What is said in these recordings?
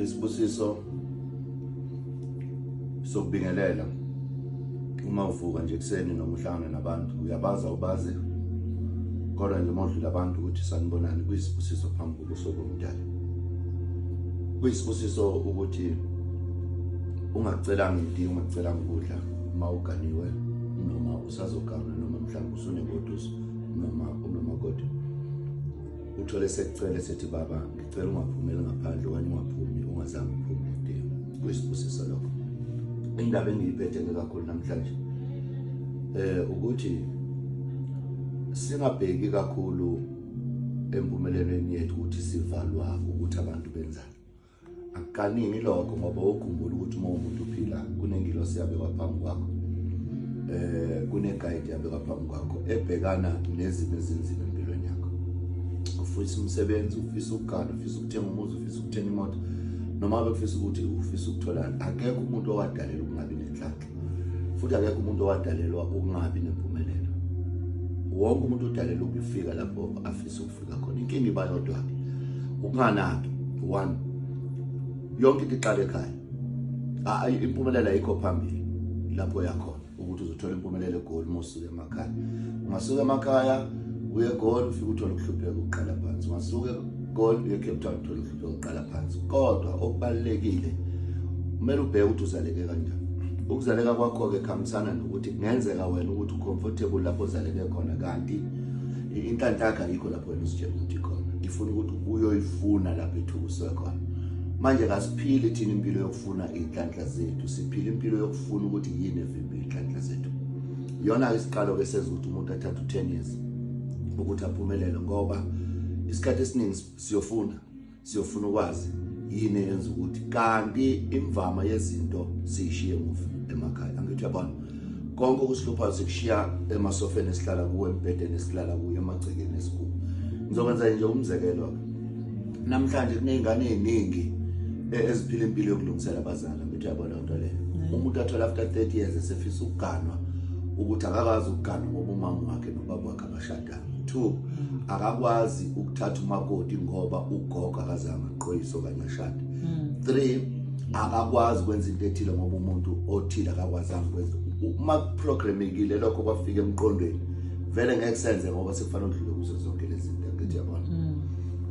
isibusiso sokubingelela uma uvuka nje kuseni noma uhlangana nabantu uyabaza ubazi kodwa nje modlula abantu ukuthi sanibonani kuyisibusiso phambi kobuso bomdala kuyisibusiso ukuthi ungacelanga iti ungacelanga ukudla uma uganiwe noma usazoganga noma mhlawumbe usunegoduso noma unomakoti uthole sekucele sethi baba ngicela ungaphumeli ngaphandle okanye ungaphumi ungazange uphume udingo kuyisibusiso lokho indaba engiyiphethe-ke kakhulu namhlanje um ukuthi singabheki kakhulu empumelelweni yethu ukuthi sivalwa ukuthi abantu benzani Akaningi lokho ngoba ukhumbula ukuthi uma umuntu uphila kunengilosi yabekwa phambi kwakho eh kunegayidi yabekwa phambi kwakho ebhekana nezimo ezinzima empilweni yakho ufisa umsebenzi ufisa ukugana ufisa ukuthenga umuzi ufisa ukuthenga imoto noma bekufisa ukuthi ufisa ukutholana akekho umuntu owadalelwa ukungabi nenhlanhla futhi akekho umuntu owadalelwa ukungabi nempumelelo wonke umuntu udalelwa ukufika lapho afisa ukufika khona inkinga iba yodwa ke ukunganaki one yonke into iqale ekhaya impumelelo ayikho phambili lapho yakhona ukuthi uzothola impumelelo egoli mosuke emakhaya ungasuka emakhaya uye egoli ufike uthole ukuhlupheka ukuqala phansi ungasuka egoli uye ecape town uthole ukuhlupheka ukuqala phansi kodwa okubalulekile kumele ubheke ukuthi uzaleke kanjani ukuzaleka kwakho-ke kuhambisana nokuthi kungenzeka wena ukuthi ucomfortable lapho ozaleke khona kanti inhlanhla yakho ayikho lapho wena uzitshela ukuthi khona ifuna ukuthi ubuyoyifuna lapho ethukuse khona manje kasiphili thina impilo yokufuna iy'nhlanhla zethu siphila impilo yokufuna ukuthi yini evimbile iy'nhlanhla zethu iyona-ke isiqalo-ke senza ukuthi umuntu athathe u-ten years ukuthi aphumelele ngoba isikhathi esiningi siyofuna siyofuna ukwazi yini eyenza ukuthi kanti imvama yezinto siyishiye muva emakhaya angithi uyabona konke okusihluphayo sikushiya emasofeni esihlala kuwo embhedeni esihlala kuyo emagcekeni esikuwo ngizokwenza nje umzekelo-ke namhlanje kuney'ngane ey'ningi e-, eziphila impilo yokulungisela abazali angithi uyabona into leyo umuntu athola after 30 years esefisa ukuganwa ukuthi akakwazi ukuganwa ngoba umama wakhe nobaba wakhe abashadanga two mm. akakwazi ukuthatha umakoti ngoba ugogo akazange aqoyise okanye ashade mm. three akakwazi ukwenza into ethile ngoba umuntu othile akakwazanga ukwenza uma kuprogramekile lokho kwafika emqondweni vele ngeke senze ngoba sekufanele udlule kuzo zonke lezi zinto ngithi yabona mm.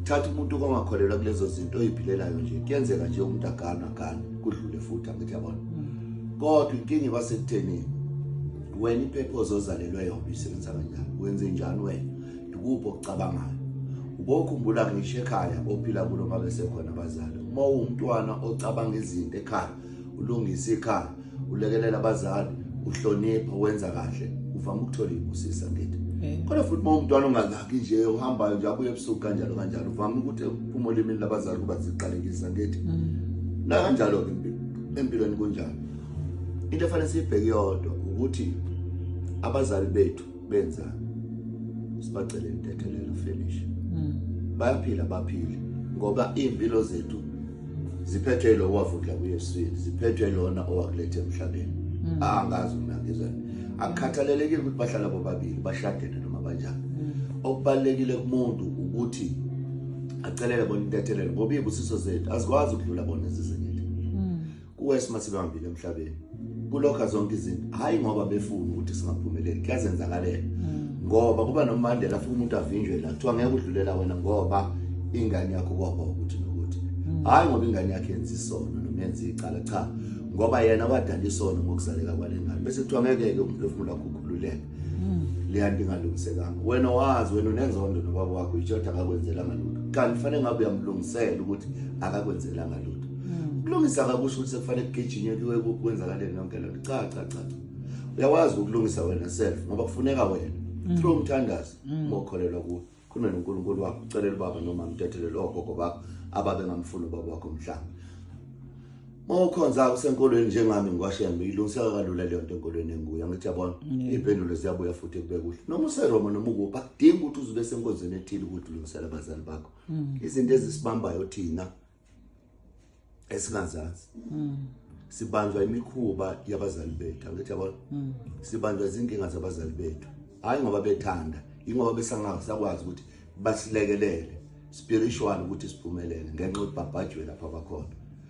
thatha umuntu ongakholelwa kulezo zinto oyiphilelayo nje kuyenzeka nje umuntu agana gana kudlule futhi angithi yabona mm. kodwa inkinga iba sekutheni wena iphepha ozozalelwe yona isebenza kanjani wenze njani wena ndikuphi okucabangayo ubokhumbula ngisho ekhaya ophila kulo uma besekhona abazali uma uwumntwana ocabanga izinto ekhaya ulungisa ikhaya ulekelela abazali uhlonipha wenza kahle uvama ukuthola ibusisa ngithi kodwa futhi uma umntwana ongakaki nje uhambayo nje abuye ebusuku kanjalo kanjalo uvama ukuthi uma olimini labazali kuba ziqalekisa ngithi mm. nakanjalo-ke empilweni kunjalo into efanele siyibheke yodwa ukuthi abazali bethu benza sibacele intethelelo finish mm. bayaphila baphile ngoba impilo zethu ziphethwe lo wavundla kuYesu ziphethwe lona owakulethe emhlabeni mm. ah, angazi mina ngizweni akukhathalelekile ukuthi bahlala bobabili bashadene noma banjani mm. okubalekile kumuntu ukuthi acelele bona intethelelo ngoba ibusiso zethu azikwazi ukudlula bona izizinto kuwesima sibambile emhlabeni kulokha zonke izinto hayi ngoba befuna ukuthi singaphumeleli kuyazenzakalela hmm. ngoba kuba nomandela futhi umuntu avinjwe la kuthiwa ngeke udlulela wena ngoba ingane yakho kwaba ukuthi nokuthi hmm. hayi ngoba ingane yakhe yenza isono noma yenza icala cha ngoba yena wadala isono ngokuzaleka kwalengane bese kuthiwa ngeke ke umphefumulo wakho ukhululeke mm. leyanto ingalungisekanga wena wazi wena unenzondo nobaba wakho itshothi akakwenzelanga lutho kanti kufanele ngabe uyamlungisela ukuthi akakwenzelanga lutho mm. kulungisa kakusho ukuthi sekufanele kugijinywe kuwe kwenzakaleni yonke lento cha cha cha uyawazi ukulungisa wena self ngoba kufuneka wena mm. through umthandazo ngokholelwa kuwe khuluma noNkulunkulu wakho ucelela ubaba noma mtethelele ogogo bakho ababe ngamfuni ubaba wakho mhlawumbe mawukhonza usenkolweni njengami ngikwashembe ilungiseka kalula leyo nto enkolweni enguya ngithi yabona iy'mpendulo ziyabuya futhi kube kuhle noma useroma noma ukuphi akudingi ukuthi uzube senkonzweni ethile ukuthi ulungisela abazali bakho mm. izinto ezisibambayo thina esingazazi mm. sibanjwa imikhuba yabazali bethu angithi yabo mm. sibanjwa izinkinga zabazali bethu hayi ngoba bethanda ingoba besangazi sakwazi ukuthi basilekelele spiritual ukuthi siphumelele ngenxa ukuthi babhajwe lapha bakhona